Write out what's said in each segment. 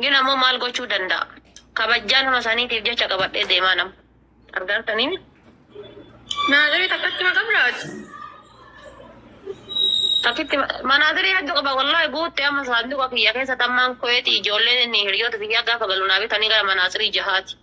Gin ammoo maal gochuu danda'a? Kabajjaa nama saniitiif jecha qabadhee deemaa nama. Argaartanii mi? Naaziri takkatti ma qabraati? Takkitti ma- manaazirii hedduu qaba wallahi guutte amma saanduqa kiyya keessa tammaan koyeeti ijoolleen inni hiriyoota biyyaa gaafa galu naa bitanii gara manaazirii jahaati.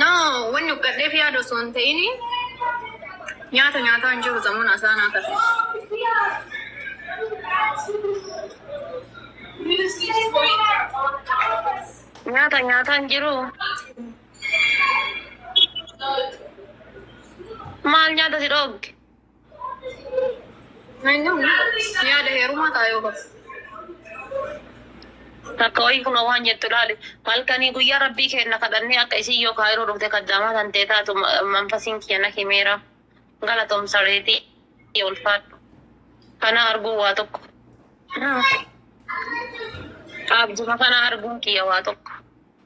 No, wanni uqqadheef yaada osoo hin ta'in nyaata nyaataa hin jiru samuun asaanaa kana. Nyaata nyaataa hin jiru. Maal nyaata si dhoogge? Yaada heerumaa ta'a yoo bas. Takka wayii kunoo waan jettu laali. Halkanii guyyaa rabbii keenna kadhannee akka isiin yoo kaayiroo dhufte kaddaamaa tantee taatu manfasiin kiyya na himeera. Galatoom saree tiyya ulfaadhu. Kanaa arguun waa tokko. Abjuma kana arguun kiyya waa tokko.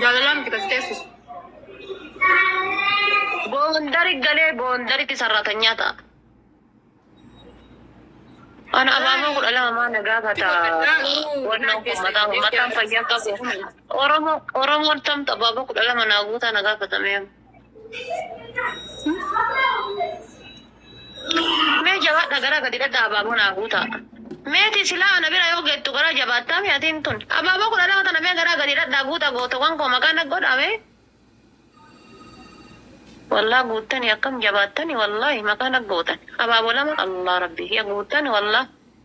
Jaalalaa miti kasi teessis. Boondari galee boondaritti sarratanyaa ta'a. Ana abaamoo kudha lama maa nagaa bataa. Wannoo kun mataa mataan fayyaa qabu. Oromoo Oromoon tamta abaaboo kudha lama naa guutaa nagaa batamee. Mee jabaadha garaa gadi dhadhaa abaaboo naa guutaa. Meeti silaa ana bira yoo geettu garaa jabaattaa mee atiin tun. Abaaboo kudha lama tana mee garaa gadi dhadhaa guutaa gootawwan koo maqaa na godhaa mee. Wallah guuttani akkam jabaattani wallahi maqaa na gootan. Abaaboo lama Allah rabbi kiya guuttani wallah.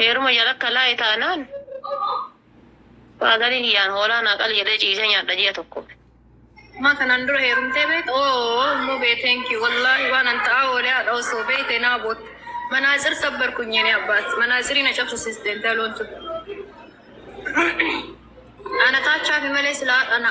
Heeruma jala akka laa'e taanaan faazariin kiyyaan hoolaa naa qali jedhee ciisee nyaadha ji'a tokkoof. Maa kanaan dura heerumtee beekta? Ooh ummu bee thank you wallaahi waanan ta'aa oolee haadha osoo beekte naa bootti. Manaatsir sabbarkuny yene abbaat manaatsirii na cabsisiiste intaloon tun. Ana taachaafi malee silaa haadha na.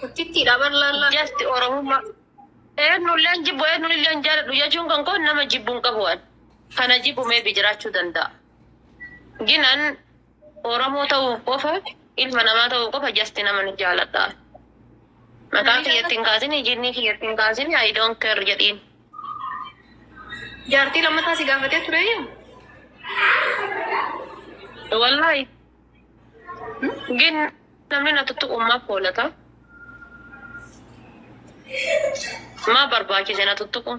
Guddittiidha bar laallaa. Just Oromummaa. Eenyulleen jibbu eenyulleen jaaladhu jechuun kan koo nama jibbu hin qabu an. Kana jibbu maybe jiraachuu danda'a. Gin an Oromoo ta'uuf qofa ilma namaa ta'uuf qofa just nama ni jaaladha. Maqaa kiyyatti hin kaasini, jinnii kiyyatti hin kaasini, I don't care jedhiin. Jaartii lammataa si gaafatee ture. Wallahi. ግን namni na tuttuqu maaf hoolata? Maa barbaachise na tuttuqu?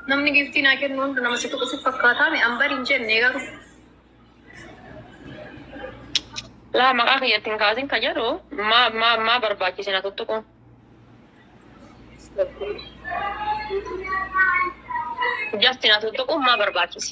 Namni giiftii naa kennu hundi nama si tuqu si fakkaataa mi? An bari hin jenne garuu. Laa maqaa kiyyatti hin kaasin ka jedhu maa maa maa barbaachise na tuttuqu? Jasti na tuttuqu maa barbaachise?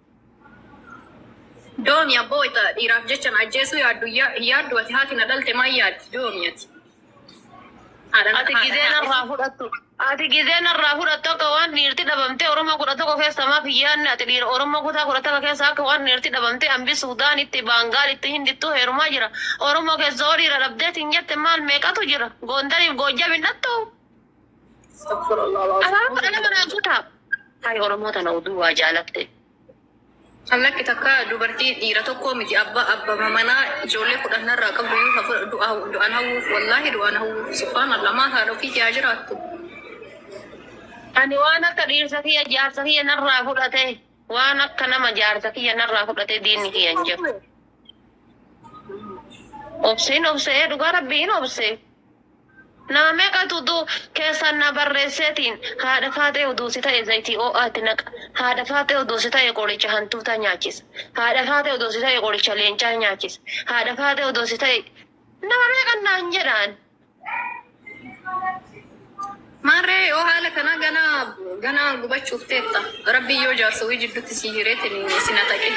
Doomi abboo wayita dhiiraaf jecha na ajjeesuu yaaddu hin yaaddu ati haati na dhalte maal yaaddi doomi ati. Ati gizee narraa fudhattu. Ati gizee narraa fudhattu akka waan dhiirti dhabamtee Oromoo kudha tokko keessa maaf hin yaadne ati dhiira Oromoo kutaa kudha tokko keessa akka waan dhiirti dhabamtee ambi Suudaanitti, Baangaalitti, Hindittuu heerumaa jira. Oromoo keessa hoo dhiira dhabdeetiin jette maal meeqatu jira? Goondariif Goojjam hin dhattuu? Afaan kudha lama naa guutaa. Hay Oromoo tana oduu waa jaalatte. Allakki takka dubartii dhiira tokkoo miti abba abbama manaa ijoollee kudhan narraa qabdu iyyuu hafu du'a du'an hawwuuf wallaahi du'an hawwuuf subhaanallah maal haadha ofii kee haa jiraattu. Ani waan akka dhiirsa kiyya jaarsa kiyya narraa fudhate waan akka nama jaarsa kiyya narraa fudhate diinni kiyya hin jiru. Obseen obsee dhugaa rabbii hin obsee. Naa meqatu du, keessaan naa barreessee tiin haadha faaxee uduu si ta'e zayitii oo'aa itti naqa haadha faaxee uduu si ta'e qoricha hantuutaa nyaachisa haadha faaxee uduu si ta'e qoricha leencaa nyaachisa haadha faaxee uduu si ta'e nama meeqan naan jedhaan. Maarree yoo haala kanaa ganaa ganaa gubachuuf teetta. Rabbiin yoo jaarsa wii jiddutti sii hireetin sin ataqin.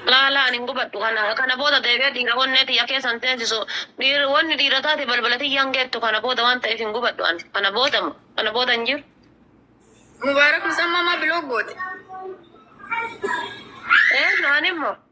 Laa laa ani hin gubadhu kana kana booda deebi'ee dhiira onnee tiyya keessa hin teensisu dhiir wanni dhiira taate balbala tiyya hin geettu kana booda waan ta'eef hin gubadhu ani kana booda mo kana booda hin jiru. Mubaarak musammaa maa bilook goote? Ee ani mo.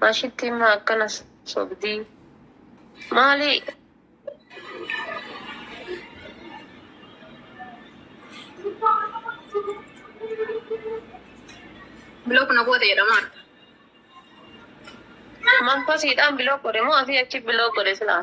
Maashittiin maa akkana sobdii? Maali? Biloo kuna goote jedhamaan. Manfasiidhaan biloo godhe moo asii achi biloo godhe silaa?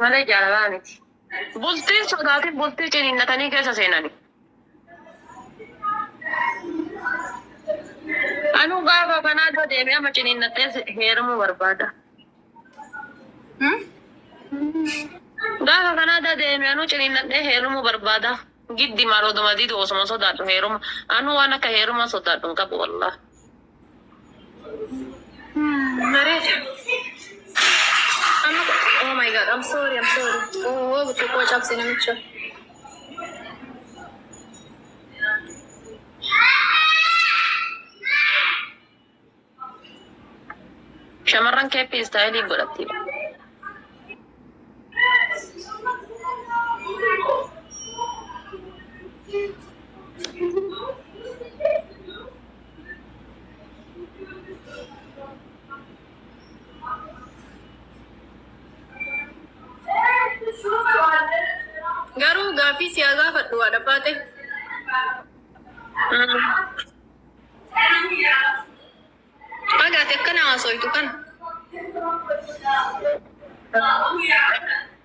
malee jaalalaa miti. Bultiin sodaatiin bultii ciniinnatanii keessa seenani. Anuu gaafa kanaa dura deeme amma ciniinnadhee heerumuu barbaada. Gaafa kanaa dura deeme anuu ciniinnadhee heerumuu barbaada. Giddi maal oduma didu osuma sodaadhu heeruma. Anuu waan akka heerumaa sodaadhu hin qabu wallah. Mareef. Amma oh my god, I'm sorry, I'm sorry. Oh, oh, xiqqoo cabse namicha. Shamarran keeppii istaayilii godhatti. Garuu gaaffii siyaa gaafadhu haadha baate. Baga ati akkana haasoytu kana.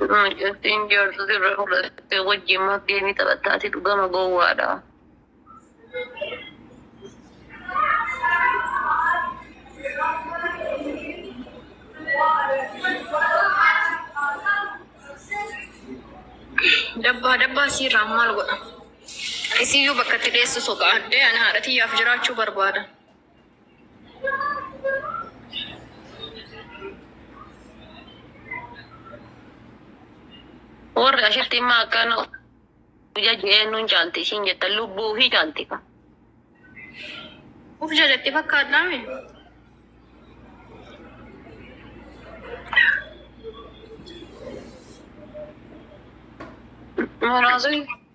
Mucattiin jaarsa sirra fudhatte wajjin maaf geemii taphattaati dhugama gowwaadha. Dabbaa dabbaa siirraa maal godha? Isiyyuu bakka itti dheessu soqaadde ani haadha tiyyaaf jiraachuu barbaada. Warri ashitti imma akkana ija jeennuun caalti ishiin jettan lubbuu fi caalti. Uf jalatti fakkaadhaa mi? Muraasni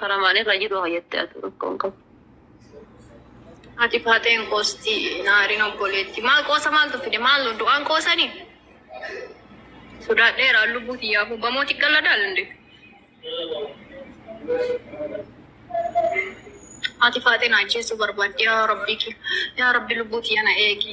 Karamaan irra jiru haa jette atu rakko hin qabu. Haati faaxee hin qoosti naarin obboleetti maal qoosa maaltu fide maal du'aan qoosani sodaadheera lubbuu tiyyaa hubbamoo xiqqalla daalinde haati faaxee na ajjeesuu barbaaddi yaa rabbii kee yaa rabbi lubbuu tiyya na eegi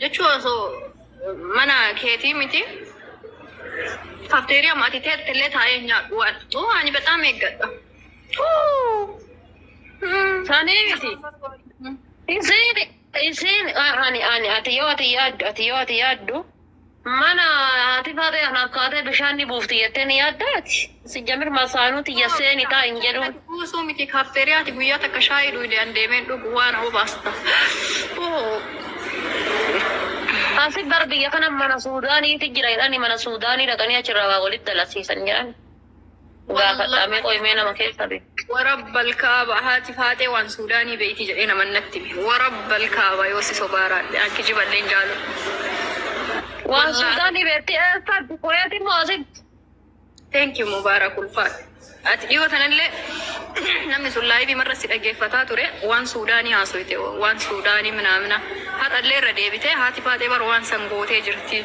Jechuun osoo mana keetii miti kafteeriyaa ati teette illee taa'ee hin nyaadhu waan. Uu ani bexaam eeggadha. Sanii miti. Isiin isiin ani ani ati yoo ati yaaddu ati yoo ati yaaddu. Mana haati Faaxee anaaf kaatee bishaan ni buufti jettee ni yaaddaa ati? Sijjamir masaanuu tiyya seeni taa'i hin jedhuun. Gad buusuu miti kaafteeriyaa ati guyyaa takka shaayii dhuydee an deemeen dhugu waana obaasta. Asi bar biyya kana mana suudaaniiti jira jedhani mana suudaanii dhaqanii achirraa waa walitti dalagsiisan jedhani. Gaafadhaa mee qoyi mee nama keessaa beektu. Warabbal kaaba haati faaxee waan suudaanii beeyti jedhee naman natti hime warabbal kaaba yoo si sobaa raadhe an kijibadhee hin jaalu Waan Wallaahi. suudaanii beekti eessatti kuweeti moo asitti. Thank you Mubaarak ulfaadhu. Ati dhiyoo tanallee namni sun laayivii marra si dhaggeeffataa ture waan suudaanii haasoyte waan suudaanii minaamina har'allee irra deebitee haati faaxee bar waan san gootee jirti.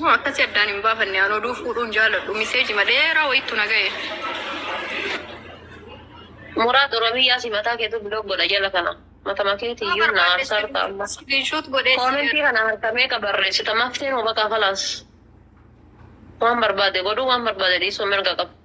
Moo akkasi addaan hin baafanne an oduu fuudhuun jaaladhu miseeji madheeraa wayittu na ga'e. Muraad Oromiyyaa si mataa keetu blog godha jala kana. Matama keeti iyyuu na aarsaa jirta amma. Screenshot godhee Koomentii kana harka meeqa barreessita mafteen hoo baqaa kalaas. Waan barbaade godhuu waan barbaade dhiisuu mirga qaba.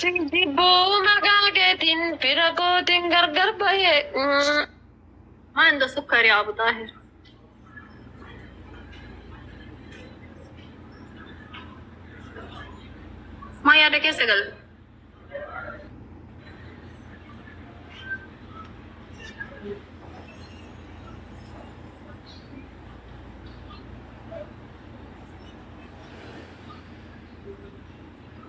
Sin jibbu maqaa keetiin fira kootiin gargar bahe. Maan da sukkari Abu Xaahir. Maa yaada keessa gal.